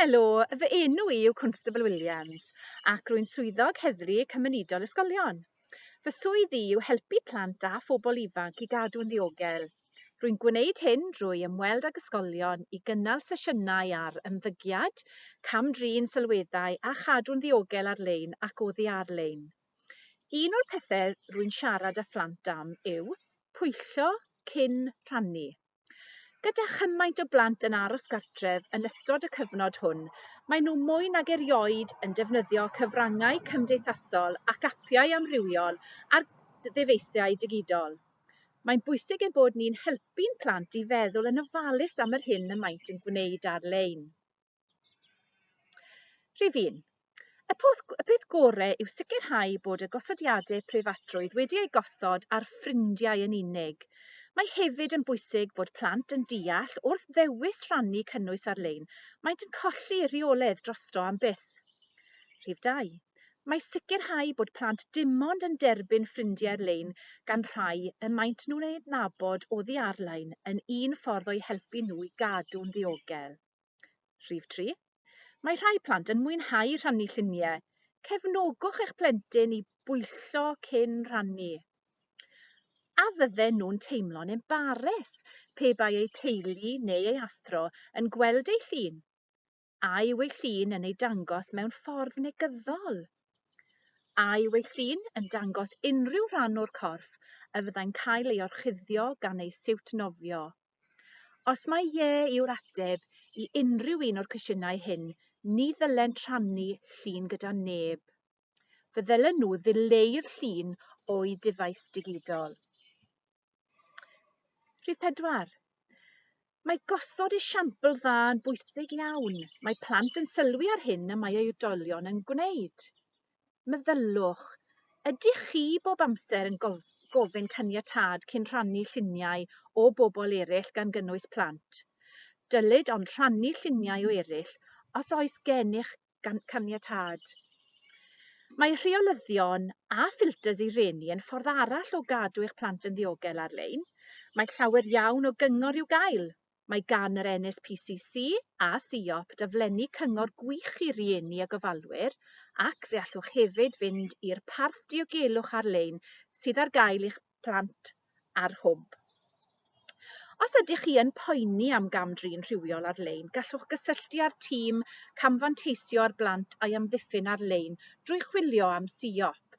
Helo, fy enw i yw Constable Williams ac rwy'n swyddog heddlu cymunedol ysgolion. Fy swydd i yw helpu plant a phobl ifanc i gadw'n ddiogel. Rwy'n gwneud hyn drwy ymweld ag ysgolion i gynnal sesiynau ar ymddygiad, cam-drin sylweddau a chadw'n ddiogel ar-lein ac oddi ar-lein. Un o'r pethau rwy'n siarad â phlant am yw pwyllo cyn rhannu. Gyda chymaint o blant yn aros gartref yn ystod y cyfnod hwn, mae nhw mwy nag erioed yn defnyddio cyfrangau cymdeithasol ac apiau amrywiol ar ddyfeisiau digidol. Mae'n bwysig ein bod ni'n helpu'n plant i feddwl yn ofalus am yr hyn y maent yn gwneud ar-lein. Rhif un, y peth gore yw sicrhau bod y gosodiadau preifatrwydd wedi eu gosod ar ffrindiau yn unig. Mae hefyd yn bwysig bod plant yn deall wrth ddewis rhannu cynnwys ar-lein, maent yn colli rheoledd drosto am byth. Rhif dau, mae sicrhau bod plant dim ond yn derbyn ffrindiau ar-lein gan rhai y maent nhw'n eu adnabod oddi ar-lein yn un ffordd o'u helpu nhw i gadw'n ddiogel. Rhif tri, Mae rhai plant yn mwynhau rhannu lluniau. Cefnogwch eich plentyn i bwyllo cyn rhannu. A fydden nhw'n teimlo'n embares pe bai eu teulu neu ei athro yn gweld ei llun? A yw ei llun yn ei dangos mewn ffordd negyddol? A yw ei llun yn dangos unrhyw rhan o'r corff y fyddai'n cael ei orchuddio gan ei siwt nofio? Os mae ie yw'r ateb i unrhyw un o'r cwestiynau hyn, ni ddylent rhannu llun gyda neb. Fe ddylen nhw ddileu'r llun o'u dyfais digidol. Rhif 4. Mae gosod esiampl dda yn bwysig iawn. Mae plant yn sylwi ar hyn y mae eu oedolion yn gwneud. meddyliwch, ydych chi bob amser yn gofyn caniatâd cyn rhannu lluniau o bobl eraill gan gynnwys plant? Dylid ond rhannu lluniau o eraill os oes gennych caniatâd. Mae rheolyddion a ffilters i reni yn ffordd arall o gadw eich plant yn ddiogel ar-lein. Mae llawer iawn o gyngor i'w gael. Mae gan yr NSPCC a Siop daflenni cyngor gwych i rieni a gofalwyr ac fe allwch hefyd fynd i'r parth diogelwch ar-lein sydd ar gael i'ch plant a'r hwb. Os ydych chi yn poeni am gam-drin rhywiol ar-lein, gallwch gysylltu â'r tîm camfanteisio ar blant a'i amddiffyn ar-lein drwy chwilio am Siop.